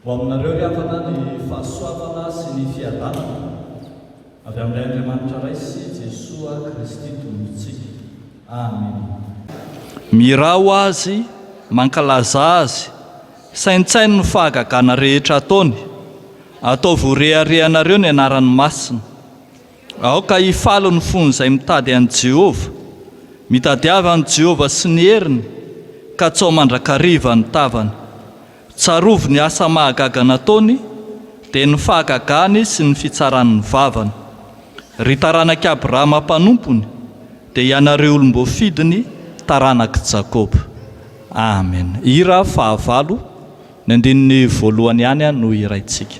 Ho aminareo ry havana ny fahasoavana sy ny fiadanana avy amin'ilay Andriamanitra Ray sy Jesoa Kristy Tompontsika. Amena. Mirao Azy, mankalaza Azy, saintsaino ny fahagagana rehetra ataony, ataovy ho reharehanareo ny anarany masina. Aoka hifaly ny fon'izay mitady an'i Jehovah, mitadiava an'i Jehovah sy ny heriny, katsao mandrakariva ny tavany. Tsarovy ny asa mahagaga nataony, dia ny fahagagany sy ny fitsaran'ny vavany. Ry taranak'i Abrahama mpanompony, dia ianareo olom-boafidiny, taranak'i Jakoba. Amen. Hira fahavalo, ny andininy voalohany ihany no hiraintsika.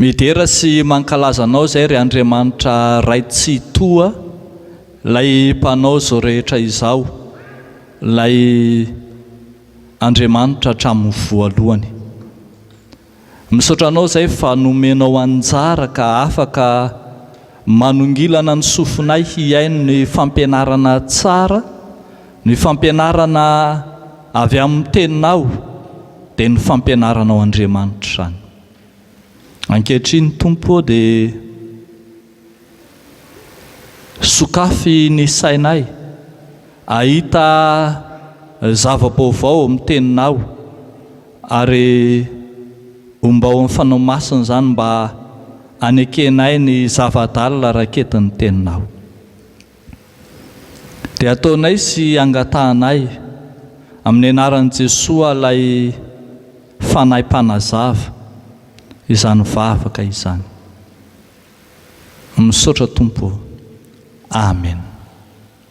Midera sy mankalaza Anao izay ry Andriamanitra Ray Tsitoha, Ilay Mpanao izao rehetra izao, Ilay Andriamanitra hatramin'ny voalohany. Misaotra Anao izay fa nomenao anjara ka afaka Manongilana ny sofinay hihaino ny fampianarana tsara, ny fampianarana avy amin'ny Teninao, dia ny fampianaranao Andriamanitra izany. Ankehitriny Tompo ô dia sokafy ny sainay hahita zava-baovao amin'ny Teninao. Ary homba ao amin'ny Fanao Masina izany mba hanekenay ny zava-dalina raketin'ny Teninao. Dia ataonay sy angatahanay, amin'ny anaran'i Jesoa ilay Fanahy Mpanazava, izany vavaka izany. Misaotra Tompo ô. Amen.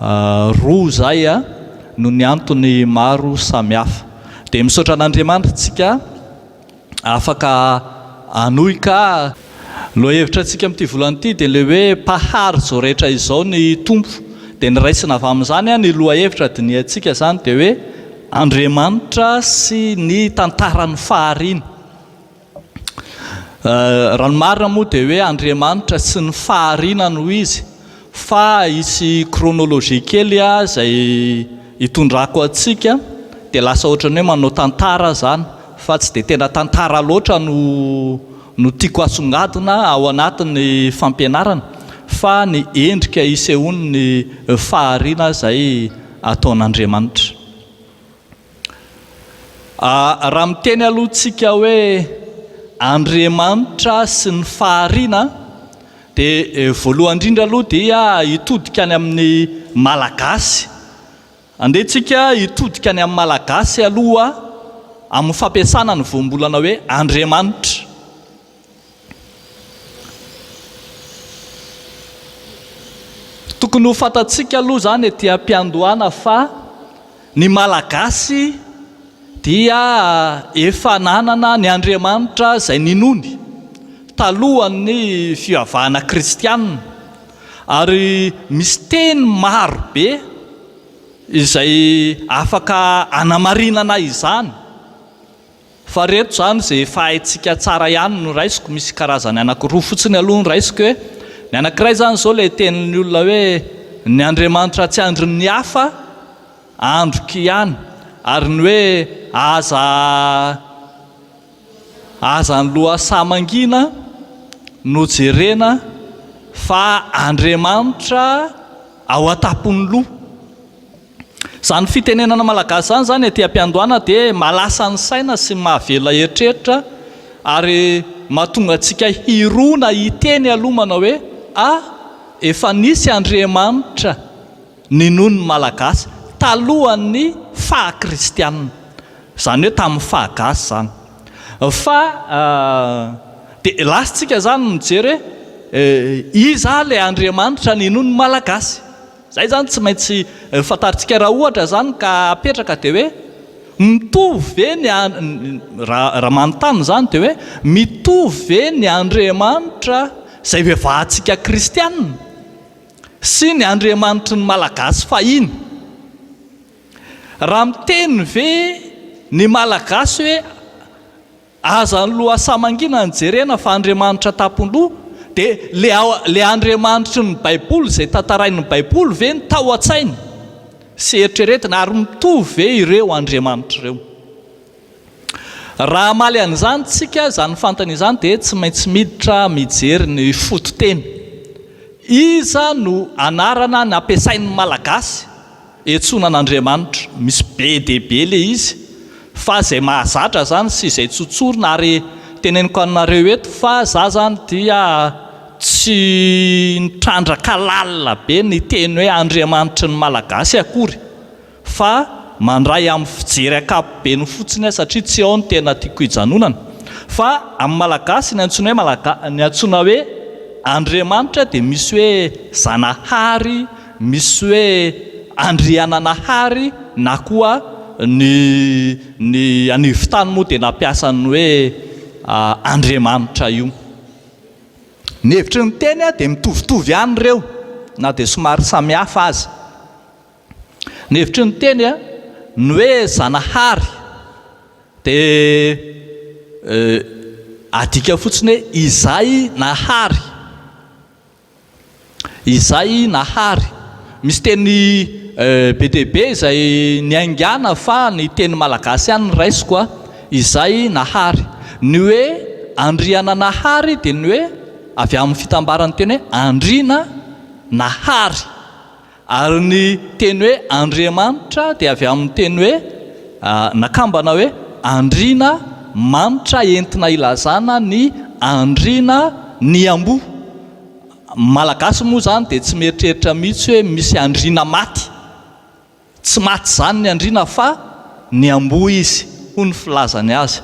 Roa izay no ny antony maro samihafa. Dia misaotra an'Andriamanitra tsika afaka hanohy ka. Lohahevitra tsika amin'ity volana ity dia ilay hoe mpahary izao rehetra izao ny Tompo. Dia ny raisina avy amin'izany ny lohahevitra dinihantsika izany dia hoe Andriamanitra sy ny tantaran'ny fahariany. Raha ny marina moa dia hoe Andriamanitra sy ny fahariana no izy fa hisy chronologie kely izay hitondrako antsika dia lasa ohatran'ny hoe manao tantara aho izany fa tsy dia tena tantara loatra no no tiako asongadina ao anatin'ny fampianarana fa ny endrika isehoan'ny fahariana izay ataon'Andriamanitra. Raha miteny aloha tsika hoe Andriamanitra sy ny fahariana dia voalohany indrindra aloha dia hitodika any amin'ny Malagasy. Andeha tsika hitodika any amin'ny Malagasy aloha amin'ny fampiasana ny voambolana hoe Andriamanitra. Tokony ho fantatsika aloha izany ety am-piandohana fa ny Malagasy dia efa nanana ny Andriamanitra izay ninoany talohan'ny fivavahana kristiana ary misy teny maro be izay afaka hanamarinana izany. Fa reto izany izay efa haintsika tsara ihany no raisiko, misy karazany anankiroa fotsiny aloha no raisiko e, ny anankiray izany izao ilay tenin'ny olona hoe ny Andriamanitra tsy andrin'ny hafa, androko ihany, ary ny hoe aza aza ny lohasaha mangina no jerena fa Andriamanitra ao an-tampon'ny loha. Izany fitenenana malagasy izany izany ety am-piandohana dia mahalasa ny saina sy mahavela hieritreritra ary mahatonga antsika hirona hiteny aloha manao hoe a! efa nisy Andriamanitra ninoan'ny malagasy talohan'ny faha kristianina, izany hoe tamin'ny faha gasy izany fa dia lasintsika izany mijery hoe iza ilay Andriamanitra ninoan'ny malagasy? Izay izany tsy maintsy fantarintsika raha ohatra izany ka apetraka dia hoe mitovy ve ny raha manontany izany dia hoe mitovy ve ny Andriamanitra izay ivevahantsika kristiana sy ny Andriamanitry ny Malagasy fahiny? Raha miteny ve ny Malagasy hoe Aza ny lohasaha mangina no jerena fa Andriamanitra tapoloha, dia le ao le Andriamanitry ny baiboly izay tantarain'ny baiboly ve no tao antsainy sy eritreretina ary mitovy ve ireo Andriamanitra ireo? Raha hamaly an'izany tsika izany fantany izany dia tsy maintsy miditra mijery ny fototeny. Iza no anarana nampiasain'ny malagasy Etsoina an'Andriamanitra. Misy be dia be ilay izy fa izay mahazatra izany sy izay tsy ho tsorina ary teneniko aminareo eto fa za zany dia tsy nitrandraka lalina be ny teny hoe Andriamanitry ny Malagasy akory fa mandray amin'ny fijery ankapobeny fotsiny aho satria tsy ao ny tena tiako hijanonana fa amin'ny Malagasy ny antsoina hoe Malaga- ny antsoina hoe Andriamanitra dia misy hoe Zanahary Misy hoe Andriananahary na koa ny ny anivon-tany moa dia nampiasa ny hoe Andriamanitra io. Ny hevitry ny teny dia mitovitovy ihany ireo na dia somary samihafa aza. Ny hevitry ny teny, ny hoe Zanahary dia adika fotsiny hoe izay nahary. Izay Nahary. Misy teny be dia be izay niaingàna fa ny teny malagasy ihany no raisiko a! Izay Nahary. Ny hoe Andriananahary dia ny hoe avy amin'ny fitambaran'ny teny hoe andriana nahary. Ary ny teny hoe Andriamanitra dia avy amin'ny teny hoe, nakambana hoe, andriana, manitra entina ilazana ny andriana, ny amboa. Ny Malagasy moa izany dia tsy mieritreritra mihitsy hoe misy andriana maty. Tsy maty izany ny andriana fa. ny amboa izy hoy ny filazany azy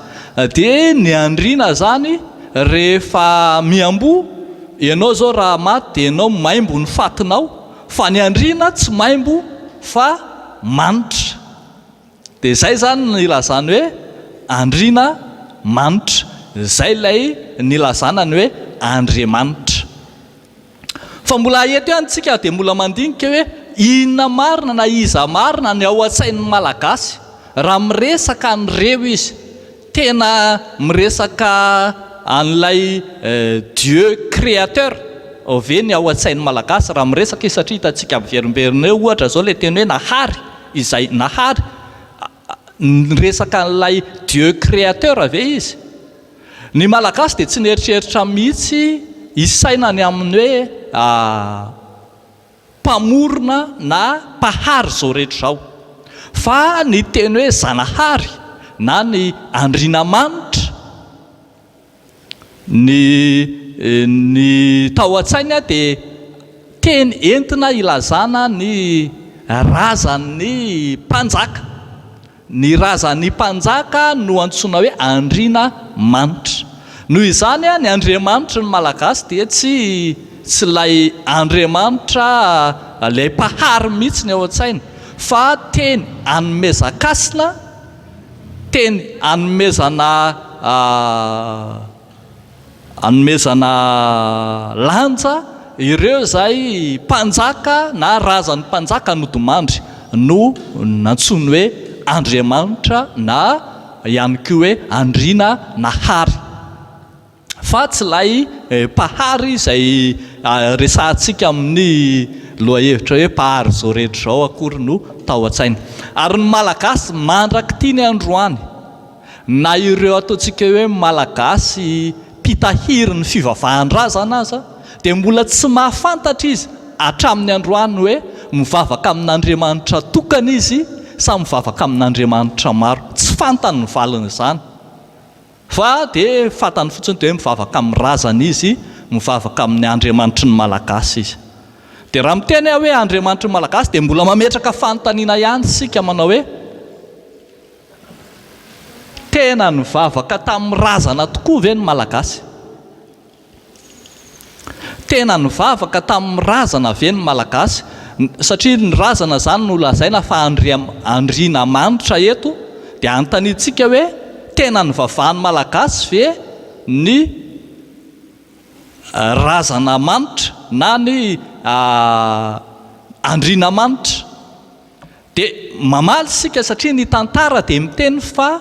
dia ny andriana zany rehefa miamboa ianao zao raha maty dia ianao maimbo ny fatinao fa ny andriana tsy maimbo fa manitra dia zay zany ny ilazany hoe andriana manitra zay lay nilazana ny hoe andriamanitra Fa mbola eto ihany tsika dia mbola mandinika hoe inona marina na iza marina ny ao an-tsain'ny Malagasy raha miresaka an'ireo izy. Tena miresaka an'ilay Dieu créateur ve ny ao an-tsain'ny Malagasy raha miresaka izy satria hitantsika miverimberina eo ohatra izao ilay teny hoe nahary izay nahary. Niresaka an'ilay Dieu Créateur ve izy? Ny Malagasy dia tsy nieritreritra mihitsy hisaina ny amin'ny hoe Mpamorona na Mpahary izao rehetra izao. Fa ny teny hoe Zanahary na ny Andrianamanitra, Ny ny tao an-tsainy dia teny entina hilazana ny razan'ny mpanjaka. Ny razan'ny mpanjaka no antsoina hoe andriana manitra. Noho izany ny andriamanitry ny Malagasy dia tsy tsy ilay andriamanitra ilay mpahary mihitsy ny ao an-tsainy fa teny anomezan-kasina. Teny anomezana anomezana lanja ireo izay mpanjaka na razan'ny mpanjaka nodimandry no nantsoiny hoe Andriamanitra na ihany koa hoe Andriana Nahary. fa tsy ilay Mpahary izay resahantsika amin'ny lohahevitra hoe Mpahary izao rehetra izao akory no tao an-tsainy. Ary ny Malagasy mandrak'ity ny androany, na ireo ataontsika hoe Malagasy mpitahiry ny fivavahan-drazana aza, dia mbola tsy mahafantatra izy hatramin'ny androany hoe mivavaka amin'Andriamanitra tokana izy sa mivavaka amin'Andriamanitra maro. Tsy fantany ny valin'izany. Fa dia fantany fotsiny dia hoe mivavaka amin'ny razana izy, mivavaka amin'ny Andriamanitry ny Malagasy izy. Dia raha miteny aho hoe Andriamanitry ny Malagasy dia mbola mametraka fanontaniana ihany isika manao hoe, tena nivavaka tamin'ny razana tokoa ve ny Malagasy? Tena nivavaka tamin'ny razana ve ny Malagasy? Satria ny razana izany no lazaina fa andrianamanitra eto dia anontaniantsika hoe tena nivavahan'ny Malagasy ve ny razanamanitra na ny andrianamanitra? Dia mamaly isika satria ny tantara dia miteny fa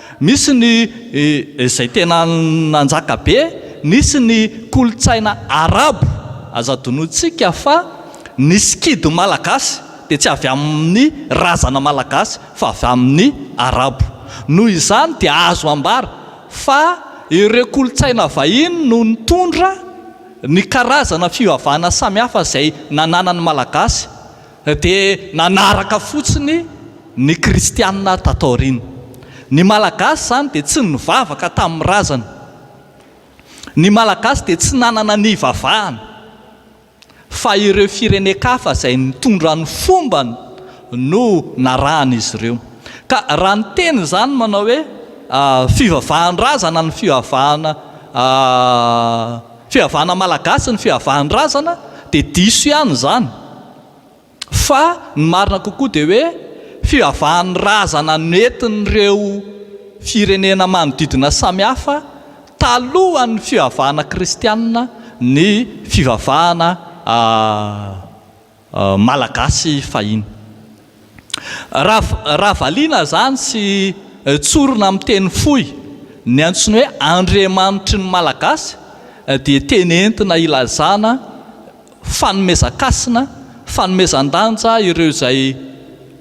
Misy ny izay tena nanjaka be, nisy ny kolontsaina arabo, aza adinointsika fa ny sikidy malagasy dia tsy avy amin'ny razana malagasy fa avy amin'ny arabo. Noho izany dia azo ambara fa ireo kolontsaina vahiny no nitondra ny karazana fivavahana samihafa izay nananan'ny malagasy. Dia nanaraka fotsiny ny kristiana tato aoriana. Ny Malagasy izany dia tsy nivavaka tamin'ny razana. Ny Malagasy dia tsy nanana ny hivavahana. Fa ireo firenen-kafa izay nitondra ny fombany no narahan'izy ireo. Ka raha ny teny izany manao hoe fivavahan-drazana ny fivavahana Fiavahana Malagasy ny fiavahan-drazana dia diso ihany izany fa ny marina kokoa dia hoe fivavahan'ny razana nentin'ireo firenena manodidina samihafa talohan'ny fivavahana kristianina ny fivavahana Malagasy fahiny. Raha valiana izany sy tsorina amin'ny teny fohy, ny antsoina hoe Andriamanitry ny Malagasy dia teny entina ilazana fanomezan-kasina, fanomezan-danja ireo izay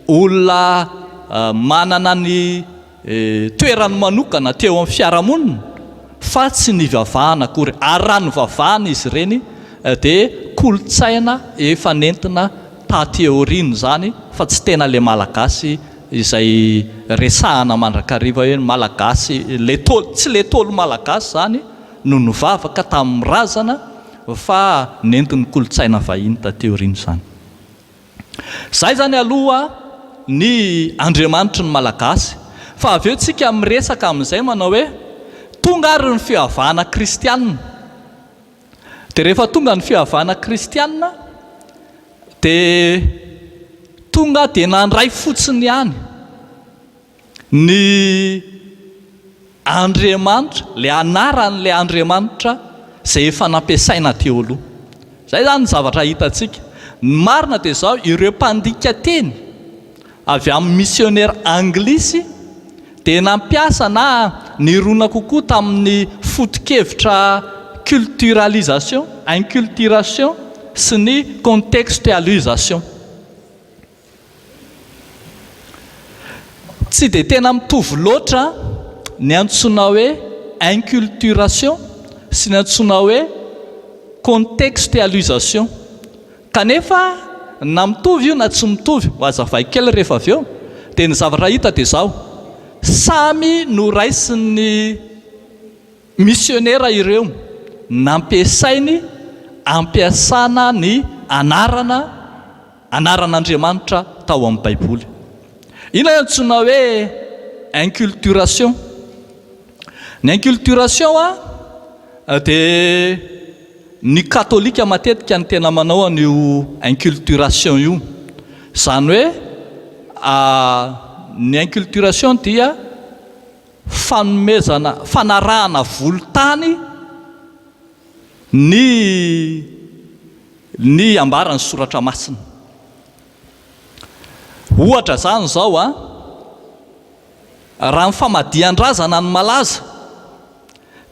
olona manana ny. toerany manokana teo amin'ny fiarahamonina fa tsy nivavahana akory ary raha nivavahana izy ireny dia kolontsaina efa nentina taty aoriana izany fa tsy tena ilay malagasy izay resahana mandrakariva hoe ny malagasy ilay tôlo tsy ilay tôlo malagasy izany no nivavaka tamin'ny razana fa nentin'ny kolontsaina vahiny taty aoriana izany Zay zany aloha ny Andriamanitry ny Malagasy fa avy eo tsika miresaka amin'izay manao hoe tonga ary ny fihavana kristianina dia rehefa tonga ny fihavana kristianina dia tonga dia nandray fotsiny ihany Ny Andriamanitra, ilay anaran'ilay Andriamanitra izay efa nampiasaina teo aloha. Izay izany ny zavatra hitantsika. Ny marina dia izao, ireo mpandika teny avy amin'ny misionera anglisy dia nampiasa na nirona kokoa tamin'ny foto-kevitra culturalisation, inculturation sy ny contextualisation. Tsy dia tena mitovy loatra ny antsoina hoe inculturation sy ny antsoina hoe contextualisation. Kanefa na mitovy io na tsy mitovy, ho azavaiko kely rehefa avy eo, dia ny zavatra hita dia izao, samy noraisin'ny misionera ireo, nampiasainy, ampiasana ny anarana, anaran'Andriamanitra tao amin'ny Baiboly. Inona no antsoina hoe inculturation? Ny inculturation dia ny katolika matetika no tena manao an'io inculturation io. Izany hoe ny inculturation dia fanomezana, fanarahana volon-tany. Ny ny ambaran'ny soratra masina. Ohatra izany izao an, raha ny famadihan-drazana no malaza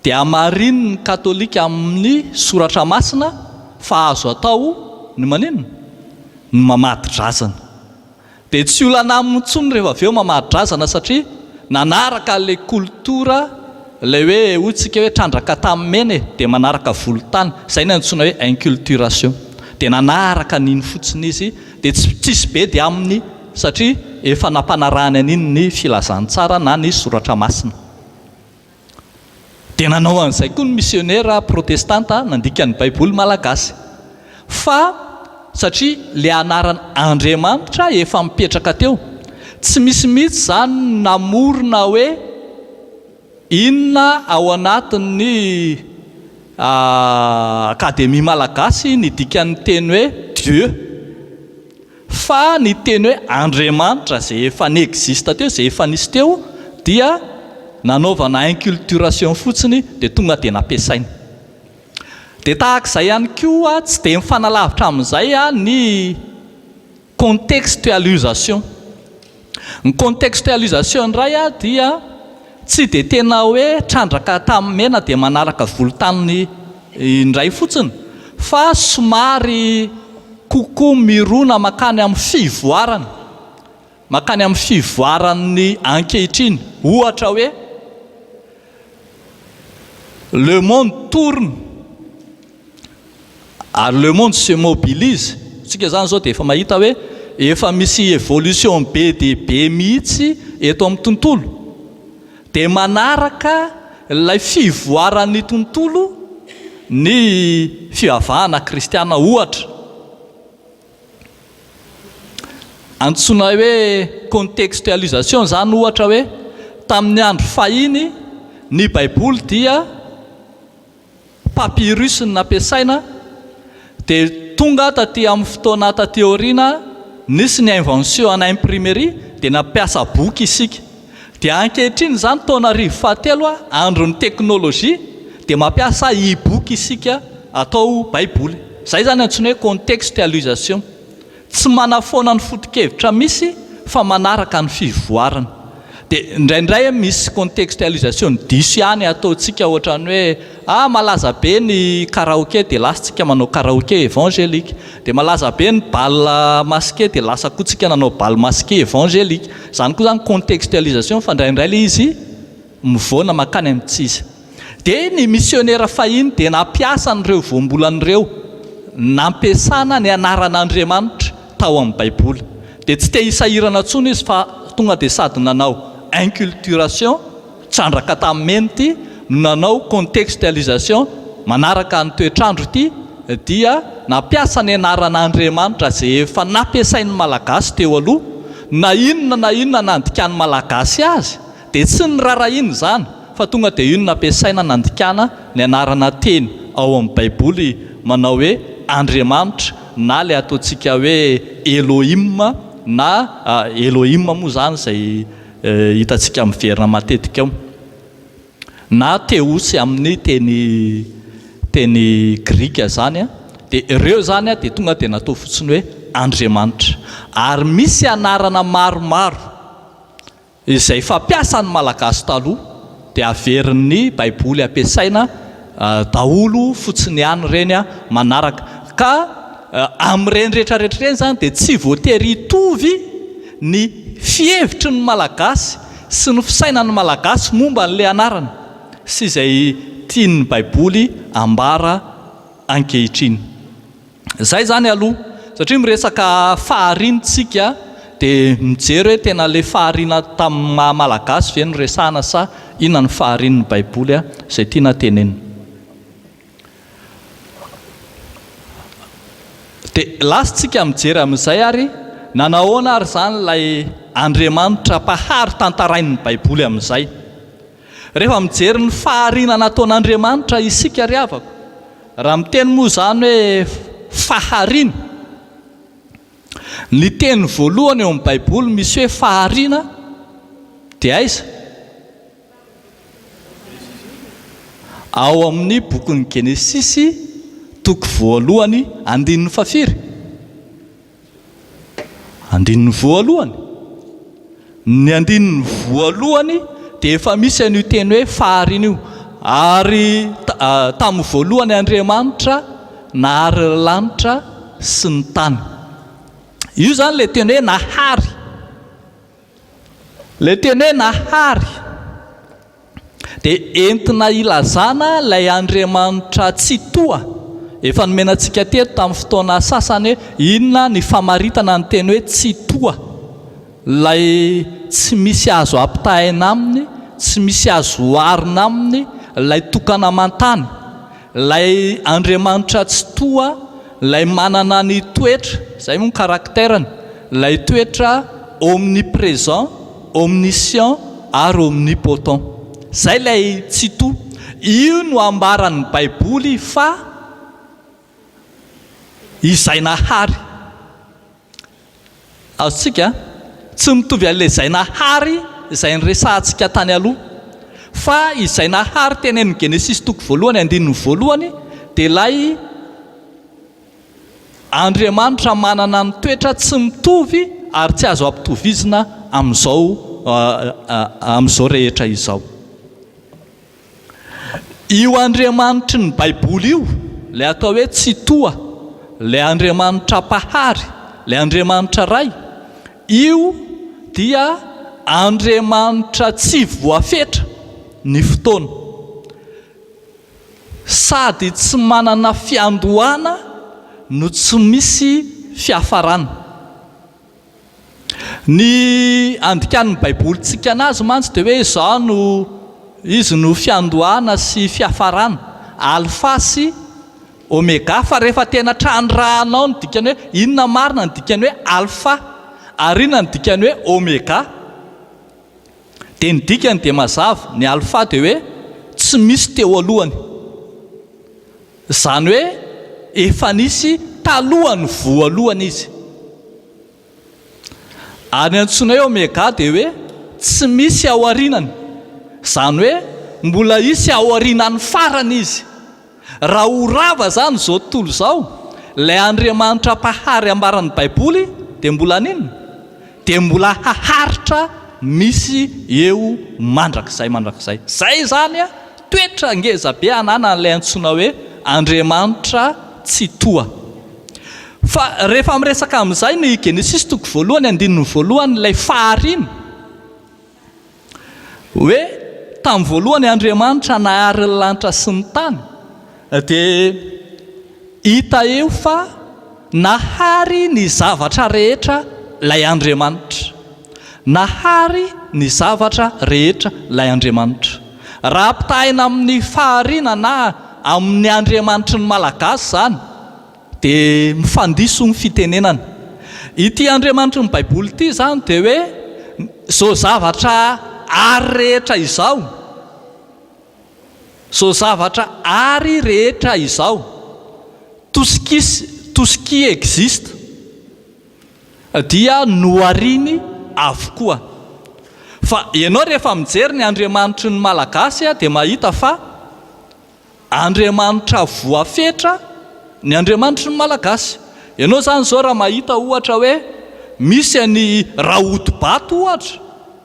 dia hamarinin'ny katolika amin'ny soratra masina fa azo atao ny maninona? Ny mamadi-drazana. Dia tsy olana aminy intsony rehefa avy eo mamaha-drazana satria nanaraka an'ilay kolotora ilay hoe hoy tsika hoe trandraka tamin'ny mena e, dia manaraka volontany, izay no antsoina hoe inculturation. Dia nanaraka an'iny fotsiny izy dia tsy tsisy be dia aminy satria efa nampanarahany an'iny ny filazantsara na ny soratra masina. Dia nanao an'izay koa ny misionera protestanta nandika ny Baiboly malagasy. Fa satria ilay anaran' Andriamanitra efa mipetraka teo, tsy misy mihitsy izany ny namorona hoe inona ao anatin'ny Akademia malagasy ny dikan'ny teny hoe Dieu. Fa ny teny hoe Andriamanitra izay efa ni-existe teo, izay efa nisy teo, dia nanaovana inculturation fotsiny dia tonga dia nampiasaina. Dia tahaka izay ihany koa, tsy dia mifanalavitra amin'izay ny contextualisation. Ny contextualisation indray dia tsy dia tena hoe trandraka tamin'ny mena dia manaraka volontany indray fotsiny fa somary kokoa mirona makany amin'ny fivoarana, makany amin'ny fivoaran'ny ankehitriny. Ohatra hoe. Le monde tourne ary le monde se mobilise. Tsika zany zao dia efa mahita hoe efa misy evolution be dia be mihitsy eto amin'ny tontolo. Dia manaraka ilay fivoaran'ny tontolo ny fivavahana kristiana ohatra. Antsoina hoe contextualisation izany ohatra hoe tamin'ny andro fahiny ny baiboly dia papyrus no nampiasaina dia tonga taty amin'ny fotoana taty aoriana nisy ny invention ana imprimerie dia nampiasa boky isika Dia ankehitriny izany taona arivo fahatelo a, andron'ny teknolojia, dia mampiasa e-book isika atao baiboly. Izay izany antsoina hoe contextualisation. Tsy manafoana ny foto-kevitra misy fa manaraka ny fivoarana. Dia indraindray a misy contextualisation diso ihany ataontsika ohatran'ny hoe ah malaza be ny karaoke dia lasa tsika manao karaoke evangelique. Dia malaza be ny bal masqué dia lasa koa tsika nanao bal masqué evangelique. Izany koa izany contextualisation fa indraindray ilay izy mivoana mankany amin'ny tsy izy. Dia ny misionera fahiny dia nampiasa an'ireo voambolana ireo nampiasana ny anaran'Andriamanitra tao amin'ny Baiboly. Dia tsy te-hisahirana intsony izy fa tonga dia sady nanao inculturation Trandraka tamin'ny mena ity no nanao contextualisation manaraka ny toetr'andro ity dia nampiasa ny anaran'Andriamanitra izay efa nampiasain'ny Malagasy teo aloha, na inona na inona nandikan'ny Malagasy azy dia tsy norarahiana izany fa tonga dia io no nampiasaina nandikana ny anarana teny ao amin'ny baiboly manao hoe Andriamanitra na ilay ataontsika hoe Elohim na Elohim moa izany izay Hitantsika miverina matetika ao na theos amin'ny teny teny grika izany dia ireo izany dia tonga dia natao fotsiny hoe andriamanitra. Ary misy anarana maromaro izay fampiasan'ny Malagasy taloha dia averin'ny baiboly ampiasaina daholo fotsiny ihany ireny manaraka. Ka amin'ireny rehetra rehetra ireny izany dia tsy voatery hitovy ny fihevitry ny Malagasy sy ny fisainan'ny Malagasy momba an'ilay anarana sy izay tian'ny baiboly ambara ankehitriny. Izay izany aloha, satria miresaka fahariana isika dia mijery hoe tena ilay fahariana tamin'ny maha Malagasy ve no resahana sa inona no faharian'ny Baiboly izay tiana tenenina. Dia lasintsika mijery amin'izay ary nanahoana ary izany ilay Andriamanitra Mpahary tantarain'ny Baiboly amin'izay. Rehefa mijery ny fahariana nataon'Andriamanitra isika ry havako, raha miteny moa izany hoe fahariana, ny teny voalohany eo amin'ny Baiboly misy hoe fahariana dia aiza? Ao amin'ny bokin'ny Genesisy, toko voalohany, andininy fahafiry? Andininy voalohany, Ny andininy voalohany dia efa misy an'io teny hoe fahariana io, ary tamin'ny voalohany Andriamanitra nahary ny lanitra sy ny tany. Io izany ilay teny hoe nahary. Ilay teny hoe nahary dia entina hilazana ilay Andriamanitra Tsitoha efa nomena antsika teto tamin'ny fotoana sasany hoe inona ny famaritana ny teny hoe Tsitoha, ilay tsy misy azo ampitahaina aminy, tsy misy azo oharina aminy, ilay tokana aman-tany. Ilay Andriamanitra Tsitoha, Ilay manana ny toetra, izay moa ny caractère-ny, ilay toetra omnipresent, omniscient ary omnipotent. Izay ilay Tsitoha. Io no ambaran'ny Baiboly fa Izay nahary. Azontsika tsy mitovy an'ilay izay nahary izay niresahantsika tany aloha. Fa izay nahary tenenin'i Genesisy toko voalohany andininy voalohany dia ilay Andriamanitra manana ny toetra tsy mitovy ary tsy azo ampitovizina amin'izao amin'izao rehetra izao. Io Andriamanitry ny Baiboly io, ilay atao hoe Tsitoha, ilay Andriamanitra Mpahary, ilay Andriamanitra Ray, io dia Andriamanitra tsy voafetra ny fotoana, sady tsy manana fiandohana no tsy misy fiafarana. Ny andikàn'ny Baiboly tsikana azy mantsy dia hoe izao no Izy no fiandohana sy fiafarana, Alfa sy Omega, fa rehefa tena trandrahanao ny dikany hoe inona marina ny dikany hoe Alfa ary inona ny dikany hoe Omega dia ny dikany dia mazava, ny Alfa dia hoe tsy misy teo alohany, izany hoe efa nisy talohan'ny voalohany izy. Ary ny antsoina hoe Omega dia hoe tsy misy aorianany, izany hoe mbola hisy aorianan'ny farany izy. Raha ho rava izany izao tontolo izao, ilay Andriamanitra Mpahary ambaran'ny Baiboly dia mbola haninona? Dia mbola haharitra misy eo mandrakizay mandrakizay. Izay izany Toetra ngeza be ananany ilay antsoina hoe Andriamanitra Tsitoha. Fa rehefa miresaka amin'izay ny Genesisy toko voalohany andininy voalohany ilay fahariana, hoe tamin'ny voalohany Andriamanitra nahary ny lanitra sy ny tany, Dia hita eo fa nahary ny zavatra rehetra ilay Andriamanitra. Nahary ny zavatra rehetra ilay Andriamanitra. Raha ampitahaina amin'ny fahariana na amin'ny Andriamanitry ny Malagasy izany dia mifandiso ny fitenenana. Ity Andriamanitry ny Baiboly ity izany dia hoe izao zavatra hary rehetra izao Izao zavatra Ary rehetra izao, tout ce qui tout ce qui existe, dia nohariny avokoa. Fa ianao rehefa mijery ny Andriamanitry ny Malagasy dia mahita fa Andriamanitra voafetra ny Andriamanitry ny Malagasy. Ianao izany izao raha mahita ohatra hoe misy an'i Rahotobato ohatra,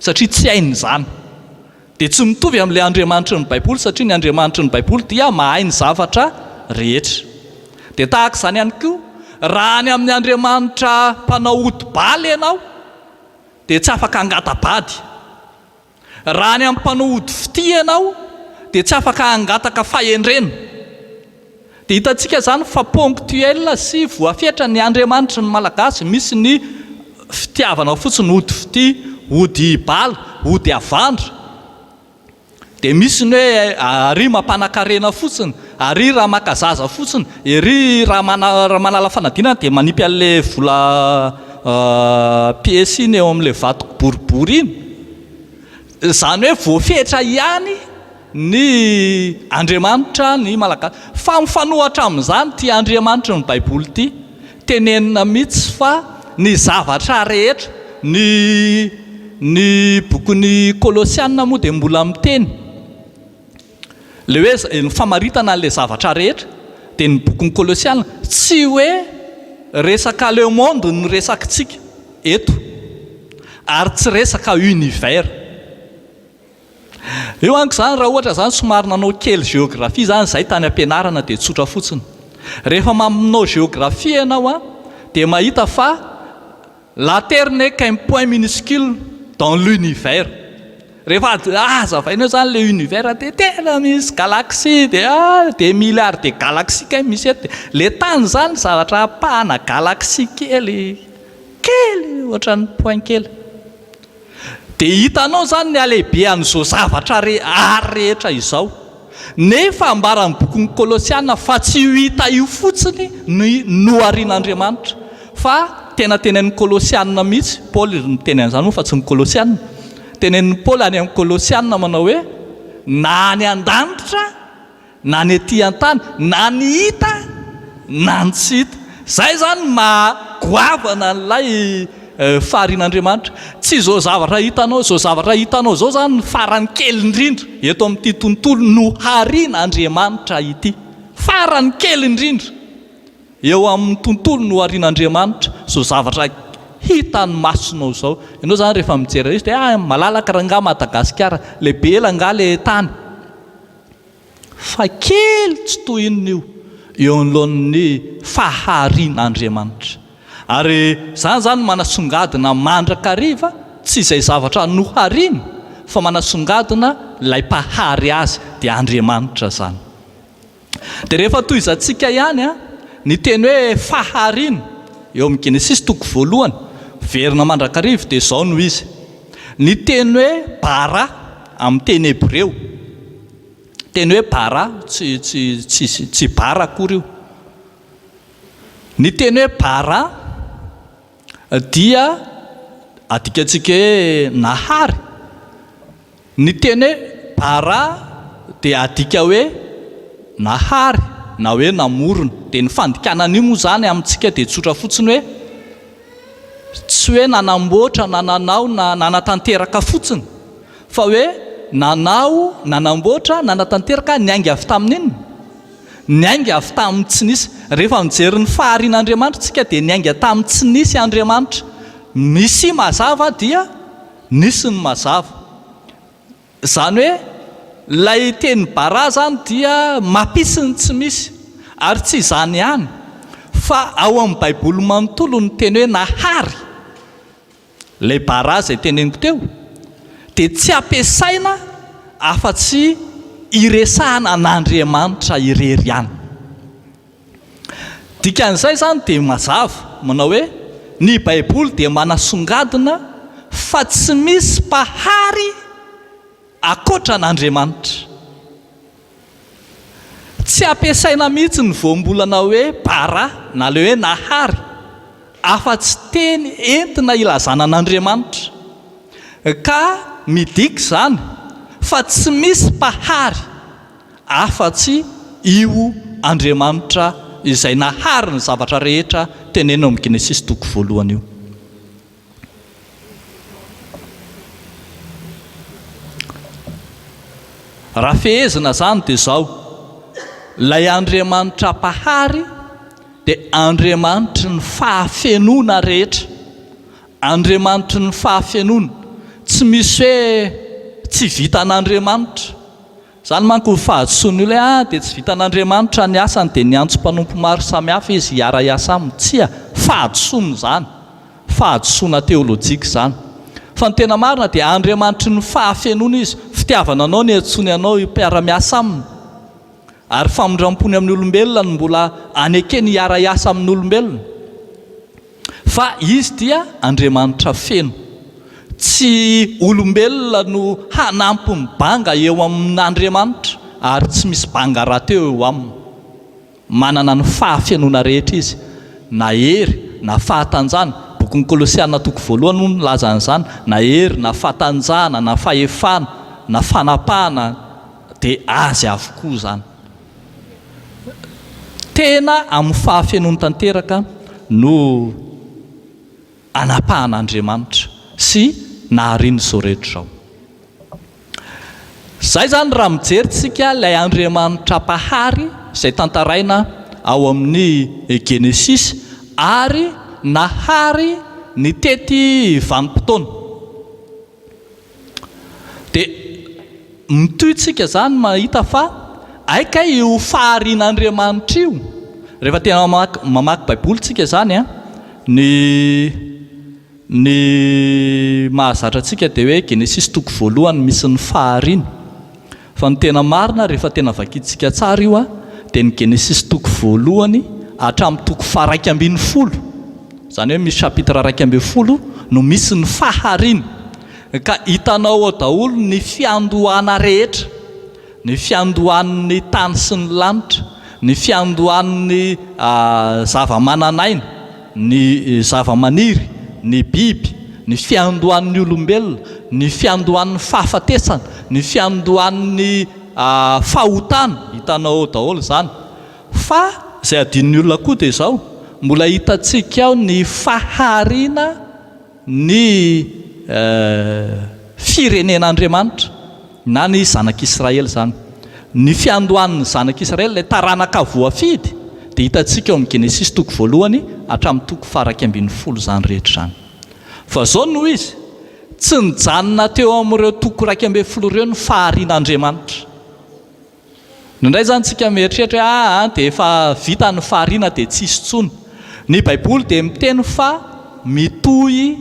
satria tsy hainy izany, dia tsy mitovy amin'ilay Andriamanitry ny Baiboly, satria ny Andriamanitry ny Baiboly dia mahay ny zavatra rehetra. Dia tahaka izany ihany koa, raha any amin'ny andriamanitra mpanao odi-bala ianao, dia tsy afaka hangata-bady. Raha any amin'ny mpanao odi-fitia ianao, dia tsy afaka hangataka fahendrena. Dia hitantsika izany fa ponctuel sy voafetra ny Andriamanitry ny Malagasy, misy ny fitiavana fotsiny ody fitia, ody hibala, ody havandra. Dia misy ny hoe ary mampanakarena fotsiny, ary raha maka zaza fotsiny, ery raha mana, raha manala fanadinana dia manipy an'ilay vola piesy iny eo amin'ilay vato boribory iny. Izany hoe voafetra ihany. ny Andriamanitra ny Malagasy. Fa mifanohatra amin'izany ity Andriamanitry ny Baiboly ity. Tenenina mihitsy fa ny zavatra rehetra, ny ny bokin'ny Kolosiana moa dia mbola miteny, ilay hoe izay, ny famaritana an'ilay zavatra rehetra, dia ny bokin'ny Kolosiana. Tsy hoe resaka le monde no resakintsika eto, ary tsy resaka univers. Eo anko izany raha ohatra izany somary nanao kely géographie izany izahay tany am-pianarana dia tsotra fotsiny. Rehefa mamonao géographie ianao an, dia mahita fa la terre n'est qu'un point minuscule dans l'univers. Rehefa hazavainao izany ilay univers dia tena misy galaxie dia des milliards de galaxies kay misy eto. Dia ilay tany izany zavatra ampahana galaxie kely, kely ohatran'ny point kely. Dia hitanao izany ny halehibehan'izao zavatra ary rehetra izao. Nefa ambaran'ny bokin'ny Kolosiana fa tsy io hita io fotsiny no noharian'Andriamanitra, fa tena tenenin'ny Kolosiana mihitsy, Paoly ry niteny an'izany moa fa tsy ny Kolosiana. Tenenin'i Paoly any amin'ny Kolosiana manao hoe, na any an-danitra, Na ny ety an-tany, na ny hita, na ny tsy hita. Izay izany no maha goavana an'ilay faharian'Andriamanitra. Tsy izao zavatra hitanao, izao zavatra hitanao izao izany no farany kely indrindra eto amin'ity tontolo noharian'Andriamanitra ity. Farany kely indrindra eo amin'ny tontolo noharian'Andriamanitra izao zavatra hitan'ny masonao izao. Ianao izany rehefa mijery an'izao dia malalaka angaha Madagasikara? Lehibe angaha ilay tany? fa kely tsy toy inona io eo anoloan'ny faharian'Andriamanitra. Ary izany izany no manasongadina mandrakariva, tsy izay zavatra nohariany, fa manasongadina ilay Mpahary azy, dia Andriamanitra izany. Dia rehefa tohizantsika ihany ny teny hoe fahariana eo amin'ny Genesisy toko voalohany, miverina mandrakariva, dia izao no izy, Ny teny hoe bara amin'ny teny hebreo, teny hoe bara, tsy, tsy, tsy, tsy bara akory io. Ny teny hoe bara dia adikantsika hoe nahary. Ny teny hoe bara dia adika hoe nahary na hoe namorona. Dia ny fandikana an'io moa izany amintsika dia tsotra fotsiny hoe. Tsy hoe nanamboatra na nanao na nanatanteraka fotsiny, fa hoe nanao, nanamboatra, nanatanteraka, niainga avy tamin'inona? Niainga avy tamin'ny tsy nisy. Rehefa mijery ny faharian'Andriamanitra isika dia niainga tamin'ny tsy nisy Andriamanitra. Misy mazava dia nisy ny mazava. Izany hoe ilay teny bara izany dia mapisy ny tsy misy. Ary tsy izany ihany fa ao amin'ny baiboly manontolo ny teny hoe nahary, ilay bara izay teneniko teo, dia tsy ampiasaina afa-tsy hiresahana an'Andriamanitra irery ihany. Dikan'izay izany dia mazava manao hoe ny Baiboly dia manasongadina fa tsy misy Mpahary ankoatra an'Andriamanitra. Tsy ampiasaina mihitsy ny voambolana hoe Bara na ilay hoe Nahary afa-tsy teny entina ilazana an'Andriamanitra. Ka midika izany fa tsy misy Mpahary afa-tsy io Andriamanitra izay nahary ny zavatra rehetra tenenina ao amin'ny Genesisy toko voalohany io. Raha fehezina izany dia izao, ilay Andriamanitra Mpahary dia Andriamanitry ny fahafenoana rehetra, Andriamanitry ny fahafenoana, tsy misy hoe tsy vitan'Andriamanitra, Izany manko ny fahadisoan'ny olona hoe ah dia tsy vitan'Andriamanitra ny asany dia niantso mpanompo maro samihafa izy hiara-hiasa aminy. Tsia, fahadisoana izany. Fahadisoana teolojika izany. Fa ny tena marina dia Andriamanitry ny fahafenoana izy, fitiavana anao no iantsoany anao hipiara-miasa aminy. Ary famindram-pony amin'ny olombelona no mbola anekeny hiara-hiasa amin'olombelona. Fa Izy dia Andriamanitra feno. Tsy olombelona no hanampy ny banga eo amin'Andriamanitra, ary tsy misy banga rahateo eo Aminy. Manana ny fahafenoana rehetra Izy, na hery, na fahatanjahana, Bokin'ny Kolosiana toko voalohany moa milaza an'izany, na hery, na fahatanjahana, na fahefana, na fanapahana, dia Azy avokoa izany. Tena amin'ny fahafenoany tanteraka no anapahan'Andriamanitra sy naharian'izao rehetra izao. Izay izany raha mijery tsika ilay Andriamanitra Mpahary izay tantaraina ao amin'ny Genesisy ary nahary nitety vanim-potoana. Dia mitohy tsika izany mahita fa hay kay io faharian'Andriamanitra io, rehefa tena mamaky mamaky baiboly tsika izany an, ny ny mahazatra antsika dia hoe genesisy toko voalohany misy ny fahariana. Fa ny tena marina rehefa tena vakintsika tsara io dia ny Genesisy toko voalohany hatramin'ny toko faharaika ambin'ny folo, izany hoe misy chapitre iraika ambin'ny folo no misy ny fahariana, ka hitanao ao daholo ny fiandohana rehetra, ny fiandohan'ny tany sy ny lanitra, ny fiandohan'ny zava-manan'aina, ny zavamaniry, ny biby, ny fiandohan'ny olombelona, ny fiandohan'ny fahafatesana, ny fiandohan'ny fahotana, hitanao ao daholo izany. Fa izay adinon'ny olona koa dia izao, mbola hitantsika ao ny fahariana. ny firenen'Andriamanitra na ny zanak'Israely izany. Ny fiandohan'ny zanak'Israely, ilay taranaka voafidy, dia hitantsika ao amin'ny Genesisy toko voalohany hatramin'ny toko faharaika ambin'ny folo izany rehetra izany. Fa izao no izy, tsy nijanona teo amin'ireo toko iraika ambin'ny folo ireo ny faharian'Andriamanitra. Indraindray izany tsika mieritreritra hoe aa dia efa vita ny fahariana dia tsy hisy intsony. Ny baiboly dia miteny fa mitohy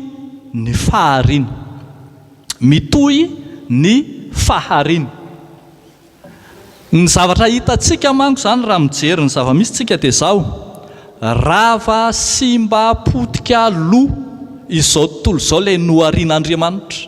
ny fahariana. Mitohy ny fahariana. Ny zavatra hitantsika manko izany raha mijery ny zava-misy tsika dia izao, rava, simba, potika, lo izao tontolo izao ilay noharian'Andriamanitra.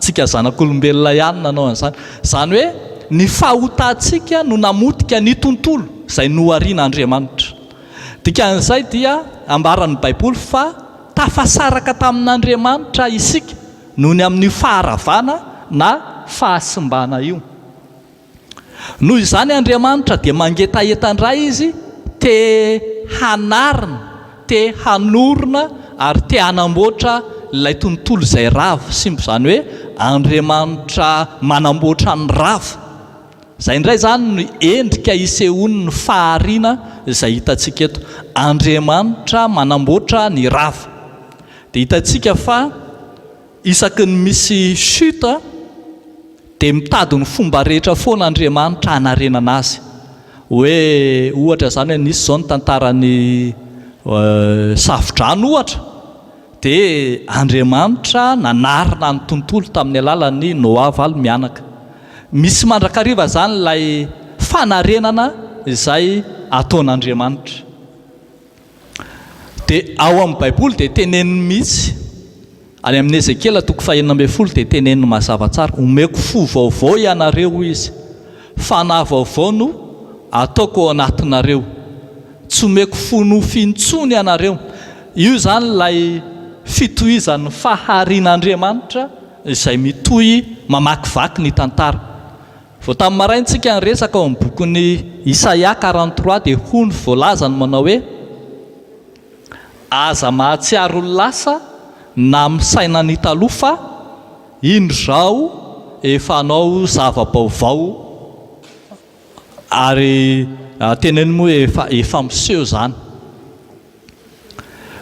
Tsika zanak'olombelona ihany nanao an'izany. Izany hoe ny fahotantsika no namotika ny tontolo izay noharian'Andriamanitra. Dikan'izay dia ambaran'ny Baiboly fa tafasaraka tamin'Andriamanitra isika noho ny amin'io faharavana na fahasimbana io. Noho izany Andriamanitra dia mangetaheta indray izy te hanarina, te hanorina ary te hanamboatra ilay tontolo izay rava, simba izany hoe Andriamanitra manamboatra ny rava. Izay indray izany no endrika isehoan'ny fahariana izay hitantsika eto. Andriamanitra manamboatra ny rava. Dia hitantsika fa Isaky ny misy chute dia mitady ny fomba rehetra foana Andriamanitra hanarenana azy. Hoe ohatra izany hoe nisy izao ny tantaran'ny Safo-drano ohatra dia Andriamanitra nanarina ny tontolo tamin'ny alalan'ny Noa valo mianaka. Misy mandrakariva izany ilay fanarenana izay ataon'Andriamanitra. Dia ao amin'ny baiboly dia teneniny mihitsy, any amin'ny Ezekiela toko fahenina ambin'ny folo dia teneniny mazava tsara, omeko fo vaovao ianareo hoy izy, fanahy vaovao no ataoko ao anatinareo, tsy omeko fo nofo intsony ianareo, io izany ilay fitohizan'ny faharian'Andriamanitra izay mitohy mamakivaky ny tantara. Vao tamin'ny maraintsika niresaka ao amin'ny bokin'i Isaia quarante trois dia hoy ny voalazany manao hoe, Aza mahatsiaro ny lasa na misaina ny taloha fa, indro izao efa hanao zava-baovao ary teneno moa efa efa miseho izany.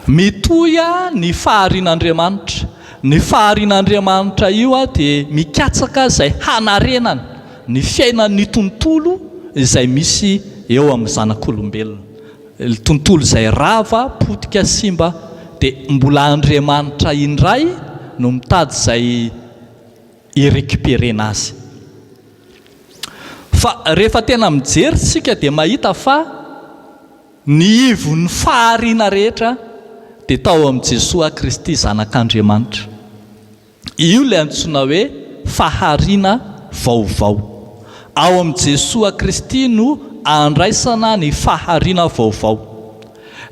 Mitohy ny faharian'Andriamanitra. Ny faharian'Andriamanitra io dia mikatsaka izay hanarenany ny fiainan'ny tontolo izay misy eo amin'ny zanak'olombelona. Ilay tontolo izay rava, potika, simba dia mbola Andriamanitra indray no mitady izay hi-recuperer-na azy. Fa rehefa tena mijery isika dia mahita fa. Ny ivon'ny fahariana rehetra dia tao amin'i Jesoa Kristy Zanak'Andriamanitra. Io ilay antsoina hoe fahariana vaovao. Ao amin'i Jesoa Kristy no andraisana ny fahariana vaovao.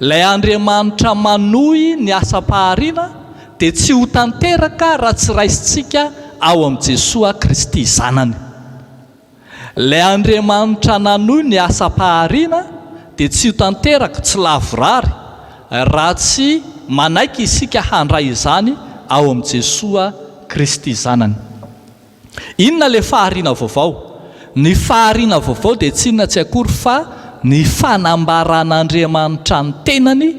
Ilay Andriamanitra manohy ny asam-pahariana dia tsy ho tanteraka raha tsy raisintsika ao amin'i Jesoa Kristy Zanany. Ilay Andriamanitra nanohy ny asam-pahariana dia tsy ho tanteraka tsy lavorary raha tsy manaiky isika handray izany ao amin'i Jesoa Kristy Zanany. Inona ilay fahariana vaovao? Ny fahariana vaovao dia tsy inona tsy akory fa ny fanambaran'Andriamanitra ny tenany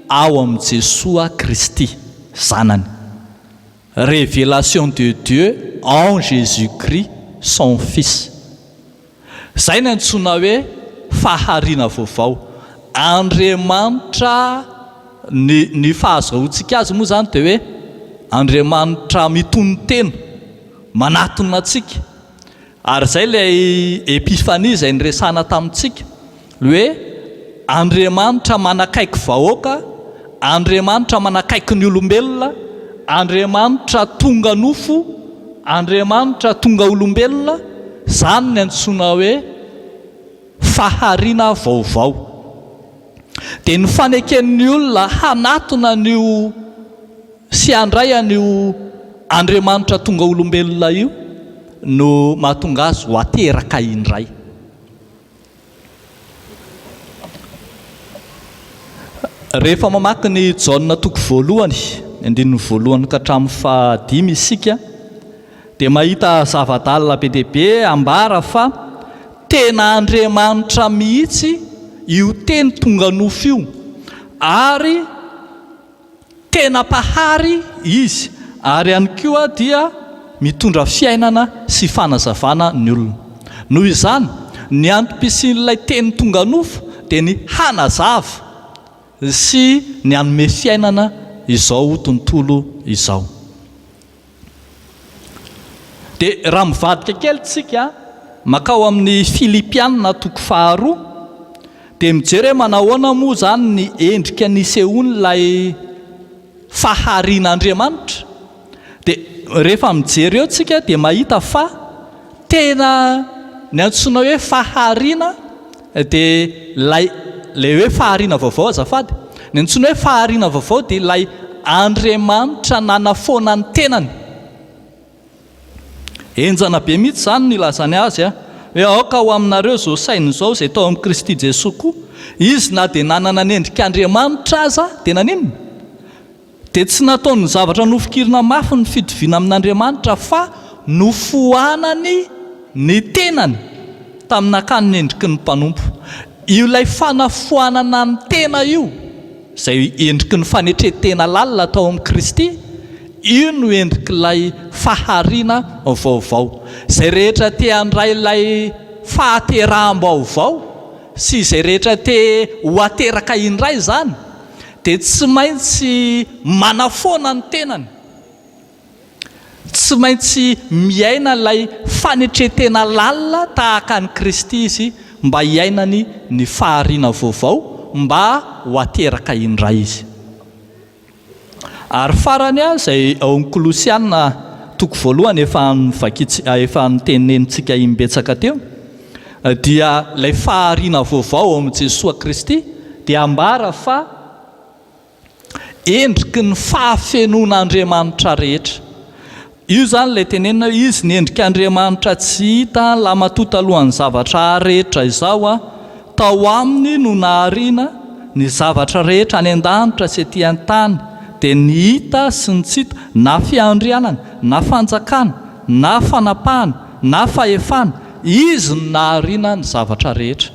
ao amin'i Jesoa Kristy Zanany. Révélation de Dieu en Jésus Christ son Fils. Izay no antsoina hoe fahariana vaovao. Andriamanitra, ny ny fahazahoantsika azy moa izany dia hoe Andriamanitra mitonon-tena, manatona antsika. Ary izay ilay Epifania izay niresahana tamintsika, ny hoe Andriamanitra manakaiky vahoaka, Andriamanitra manakaiky ny olombelona, Andriamanitra tonga nofo, Andriamanitra tonga olombelona, izany ny antsoina hoe fahariana vaovao. Dia ny faneken'ny olona hanatona an'io. Tsy handray an'io Andriamanitra tonga olombelona io no mahatonga azy ho ateraka indray. Rehefa mamaky ny Jaona toko voalohany, ny andininy voalohany ka hatramin'ny fahadimy isika dia mahita zava-dalina be dia be ambara fa tena Andriamanitra mihitsy io Teny tonga nofo io ary Tena Mpahary Izy ary ihany koa dia mitondra fiainana sy fanazavana ny olona. Noho izany, ny antom-pisian'ilay teny tonga nofo dia ny hanazava sy ny hanome fiainana izao tontolo izao. Dia raha mivadika kely tsika makao amin'ny Filipiana toko faharoa dia mijery hoe manahoana moa izany ny endrika nisehoan'ilay faharian'Andriamanitra. Dia rehefa mijery eo tsika dia mahita fa tena ny antsoina hoe fahariana Dia ilay ilay hoe fahariana vaovao azafady, ny antsoina hoe fahariana vaovao dia ilay Andriamanitra nanafoana ny tenany. Henjana be mihitsy izany no ilazany azy a! Hoe aoka ho aminareo izao saina izao izay tao amin'i Kristy Jesoa koa. Izy na dia nanana ny endrik'Andriamanitra aza dia naninona? Dia tsy nataony zavatra nofikirina mafy ny fitoviana amin'Andriamanitra fa nofoanany ny tenany tamin'akany ny endriky ny mpanompo. Io ilay fanafoanana ny tena io, izay endriky ny fanetren-tena lalina tao amin'i Kristy, io no endrik'ilay fahariana vaovao. Izay rehetra te handray ilay fahateraham-baovao sy izay rehetra te ho ateraka indray izany, dia tsy maintsy manafoana ny tenany, tsy maintsy miaina ilay fanetren-tena lalina tahaka an'i Kristy izy mba hiainany ny fahariana vaovao mba ho ateraka indray izy. Ary farany ary izay ao amin'ny Kolosiana toko voalohany efa novakin-, efa notenenintsika imbetsaka teo, dia ilay fahariana vaovao ao amin'i Jesoa Kristy dia ambara fa endriky ny fahafenoan'Andriamanitra rehetra. Io izany ilay tenenina hoe izy ny endrik'Andriamanitra tsy hita, lahimatoa talohan'ny zavatra rehetra izao aho. Tao aminy no nahariana ny zavatra rehetra any an-danitra sy ety an-tany, dia ny hita sy ny tsy hita, na fiandrianana, na fanjakana, na fanapahana, na fahefana, Izy no nahariana ny zavatra rehetra.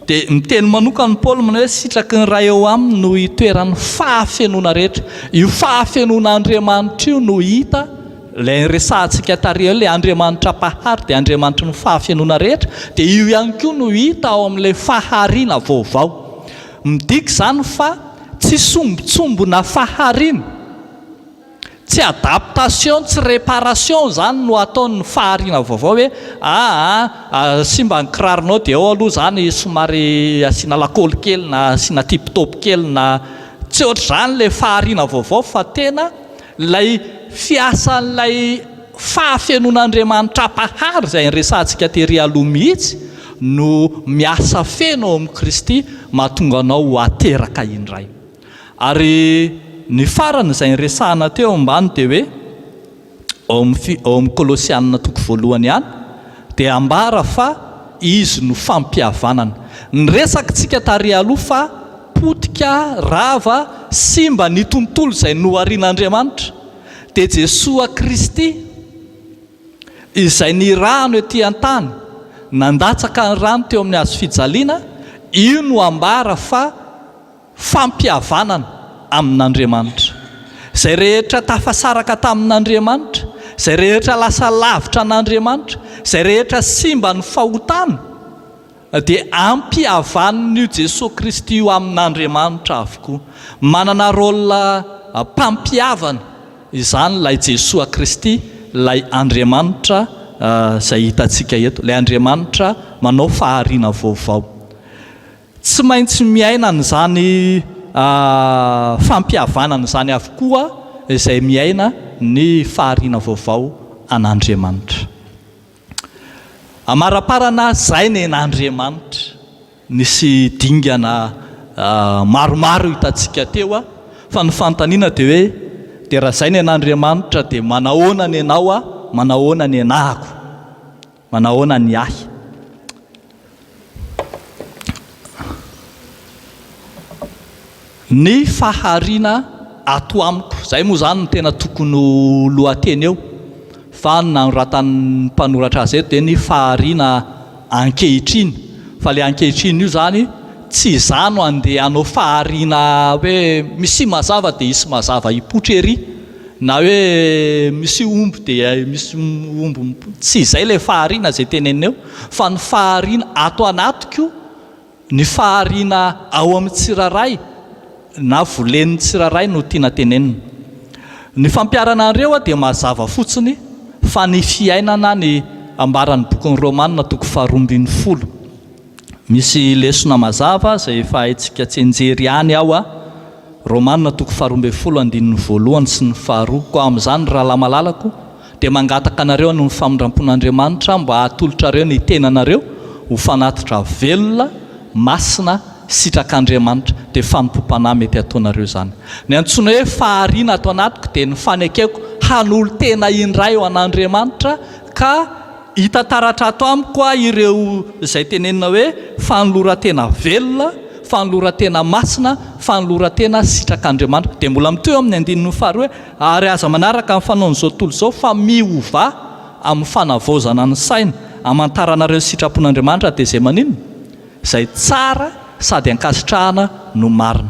Dia miteny manokana Paoly manao hoe sitraky ny Ray eo aminy no itoeran'ny fahafenoana rehetra. Io fahafenoana Andriamanitra io no hita, ilay resahantsika tary eo, ilay Andriamanitra Mpahary dia Andriamanitry ny fahafenoana rehetra, dia io ihany koa no hita ao amin'ilay fahariana vaovao. Midika izany fa tsy sombintsombina fahariana. Tsy adaptation tsy reparation izany no ataon'ny fahariana vaovao hoe aa simba ny kiraronao dia ao aloha izany somary asiana lakôly kely na asiana tip top kely na tsy ohatr'izany ilay fahariana vaovao fa tena ilay fiasan'ilay fahafenoan'Andriamanitra Mpahary izay niresahantsika tery aloha mihitsy no miasa feno ao amin'i Kristy mahatonga anao ho ateraka indray. Ary ny farany izay niresahana teo ambany dia hoe, ao amin'ny fi, ao amin'ny Kolosiana toko voalohany ihany dia ambara fa Izy no fampihavanana. Ny resakitsika tary aloha fa potika, rava, simba ny tontolo izay noharian'Andriamanitra dia Jesoa Kristy izay nirahano ety an-tany, nandatsaka ny rany teo amin'ny Hazo fijaliana, io no ambara fa. fampihavanana amin'Andriamanitra. Izay rehetra tafasaraka tamin'Andriamanitra, izay rehetra lasa lavitra an'Andriamanitra, izay rehetra simba ny fahotana, dia ampihavan'io Jesoa Kristy io amin'Andriamanitra avokoa. Manana rôle mpampihavana izany ilay Jesoa Kristy, ilay Andriamanitra izay hitantsika eto, ilay Andriamanitra manao fahariana vaovao. Tsy maintsy miaina an'izany fampihavanana izany avokoa izay miaina ny fahariana vaovao an'Andriamanitra. Amaraparana izay nen'Andriamanitra. Nisy dingana maromaro hitantsika teo fa ny fanontaniana dia hoe, dia raha izay nen'Andriamanitra dia manahoana ny anao, manahoana ny anako? Manahoana ny ahy? Ny fahariana ato amiko. Izay moa izany no tena tokony ho lohateny eo, fa ny nanoratan'ny mpanoratra azy eto dia ny fahariana ankehitriny. Fa ilay ankehitriny io izany tsy izaho no handeha hanao fahariana hoe misia mazava dia hisy mazava hipoitra ery. Na hoe misy omby dia misy omby mipona. Tsy izay ilay fahariana izay tenenineo fa ny fahariana ato anatiko, ny fahariana ao amin'ny tsirairay na volen'ny tsirairay no tiana tenenina. Ny fampiharana an'ireo aho dia mazava fotsiny fa ny fiainana ny ambaran'ny bokin'ny Romana toko faharoa ambin'ny folo. Misy lesona mazava izay efa haintsika tsianjery ihany ao a Romana toko faharoa ambin'ny folo andininy voalohany sy ny faharoa. Koa amin'izany, rahalahy malalako, dia mangataka anareo hanon'ny famindrampon'Andriamanitra mba hatolotrareo ny tenanareo ho fanatitra velona, masina, sitrak'Andriamanitra. Dia fanompoam-panahy mety hataonareo izany. Ny antsoina hoe fahariana ato anatiko dia ny fanekeko hanolo-tena indray ho an'Andriamanitra ka Hita taratra ato amiko hoa ireo izay tenenina hoe fanoloran-tena velona, fanoloran-tena masina, fanoloran-tena sitrak'Andriamanitra. Dia mbola mitohy eo amin'ny andininy faharoa hoe, Ary aza manaraka ny fanaon'izao tontolo izao, fa miovà amin'ny fanavaozana ny saina, hamantaranareo ny sitrapon'Andriamanitra, dia izay maninona? izay tsara sady ankasitrahana no marina.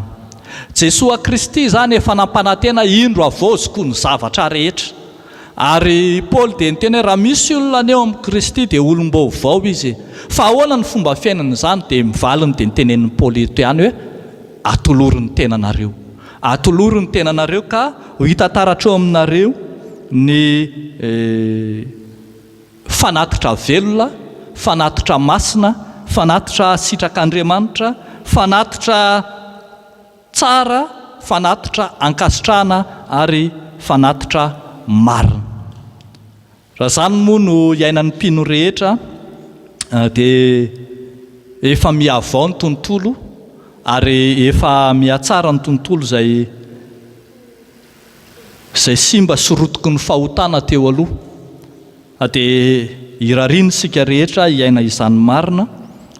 Jesoa Kristy izany efa nampanantena, Indro havaoziko ny zavatra rehetra. Ary i Paoly dia niteny hoe raha misy olona anio amin'i Kristy dia olom-baovao izy. Fa ahoana ny fomba fiainana izany? Dia ny valiny dia ny tenenin'i Paoly eto ihany hoe, Atolory ny tenanareo. Atolory ny tenanareo ka ho hita taratra eo aminareo ny fanatitra velona, fanatitra masina, fanatitra sitrak'Andriamanitra, fanatitra. Tsara fanatitra ankasitrahana ary fanatitra marina. Raha izany moa no iainan'ny mpino rehetra dia efa mihavao ny tontolo ary efa mihatsara ny tontolo izay izay simba sy rotiky ny fahotana teo aloha. A Dia irariana isika rehetra hiaina izany marina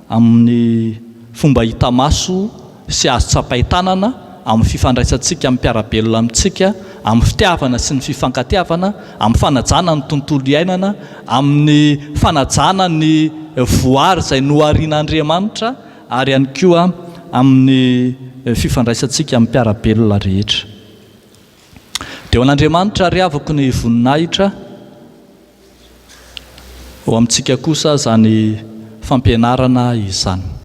amin'ny fomba hita maso sy azo tsapain-tanana, amin'ny fifandraisantsika amin'ny mpiara-belona amintsika, amin'ny fitiavana sy ny fifankatiavana, amin'ny fanajana ny tontolo iainana, amin'ny fanajana ny voary izay noharian'Andriamanitra ary ihany koa amin'ny fifandraisantsika amin'ny mpiara-belona rehetra. Dia ho an'Andriamanitra àry avoko ny voninahitra, ho amintsika kosa izany fampianarana izany.